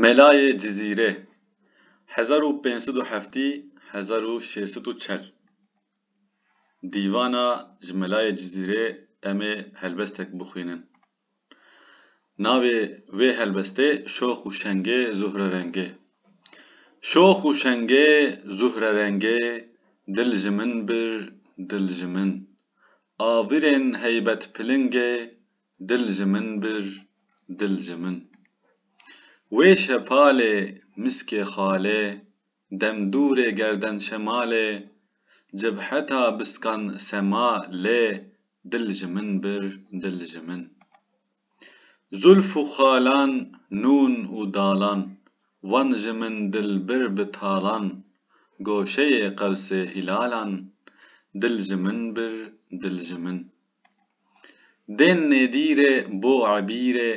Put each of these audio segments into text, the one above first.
Melayê Cizîrê, hezar û pênc sed û heftî - hezar û şêş sed û çel Dîvana ji Melayê Cizîrê em ê helbestek bixwînin. Navê vê helbestê Şox û Şengê Zuhrerengê Şox û şengê zuhrerengê Dil ji min bir, dil ji min A virên heybetpilingê Dil ji min bir, dil ji min. Wê şepalê, miskê xalê, dem dûrê gerden şemalê, cibheta biskan sema lê, dil ji min bir, dil ji min. Zûlf û xalan, nûn û dalan, wan ji min dil bir bi talan, goşeyê qewsê hîlalan, dil ji min bir, dil ji min. Dên nêdîrê bo ebîrê,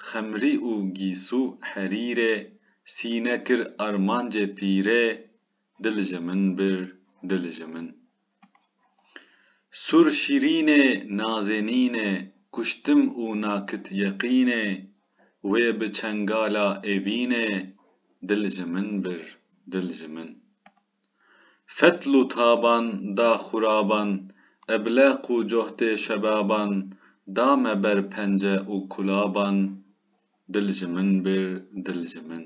xemrî û gîsû herîrê, sîne kir armancê tîrê, dil ji min bir, dil ji min. Sur şîrînê nazênînê, kuştim û nakit yeqînê, wê bi çengala evînê, dil ji min bir, dil ji min. Fetl û taban da xuraban, ebleq û cohdê şebaban da me ber pence û kulaban, dil ji min bir, dil ji min.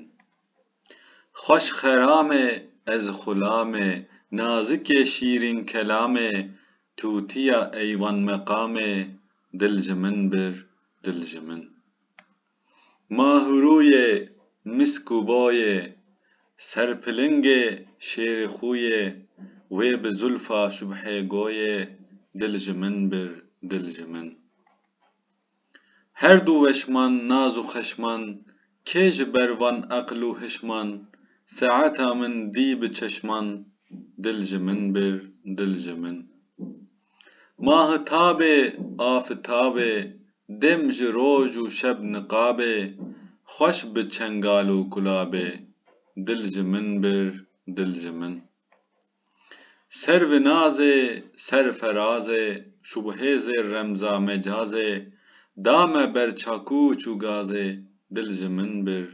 Xweş xeramê ez xulamê, nazikê şîrîn kelamê, tûtiya eywan meqamê, dil ji min bir, dil ji min. Ma hûrûyê misk û bayê. Serpilingê şêrê xûyê. Wê bi zulfa şubhê goyê. Dil ji min bir, dil ji min. Her du weşman naz û xeşman. Kê ji ber van eql û hişman. Seeta min dî bi çeşman. Dil ji min bir, dil ji min. Mahitabê afitabê, dem ji roj û şeb niqabê, xweş bi çengal û kulabê, dil ji min bir, dil ji min. Servê nazê, ser ferazê, şubhêzê remza mecazê, da me ber çakûç û gazê, dil ji min bir,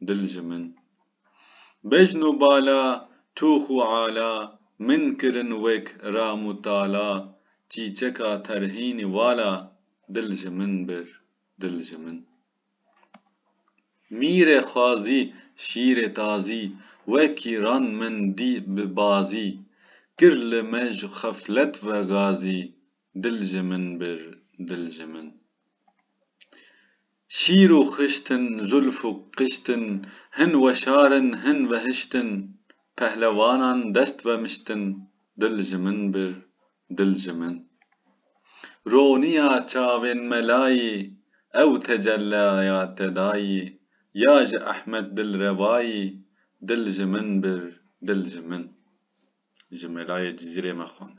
dil ji min. Bejn û bala, tûx û ala, min kirin wek ram û tala, çîçeka terhînî vala, dil ji min bir, dil ji min. Mîrê xwazî, şîrê tazî, wekî ran min dî bi bazî, kir li me ji xeflet ve gazî, Dil ji min bir, dil ji min. Şîr û xişt in, zûlf û qişt in, hin weşar in, hin vehişt in, pehlewanan dest vemişt in, dil ji min bir, dil ji min. Roniya çavên me layî, ew tecellaya te dayî, ya ji Ehmed Dilrevayî, dil ji min bir, dil ji min. Ji melayê Cizîrê me xwend.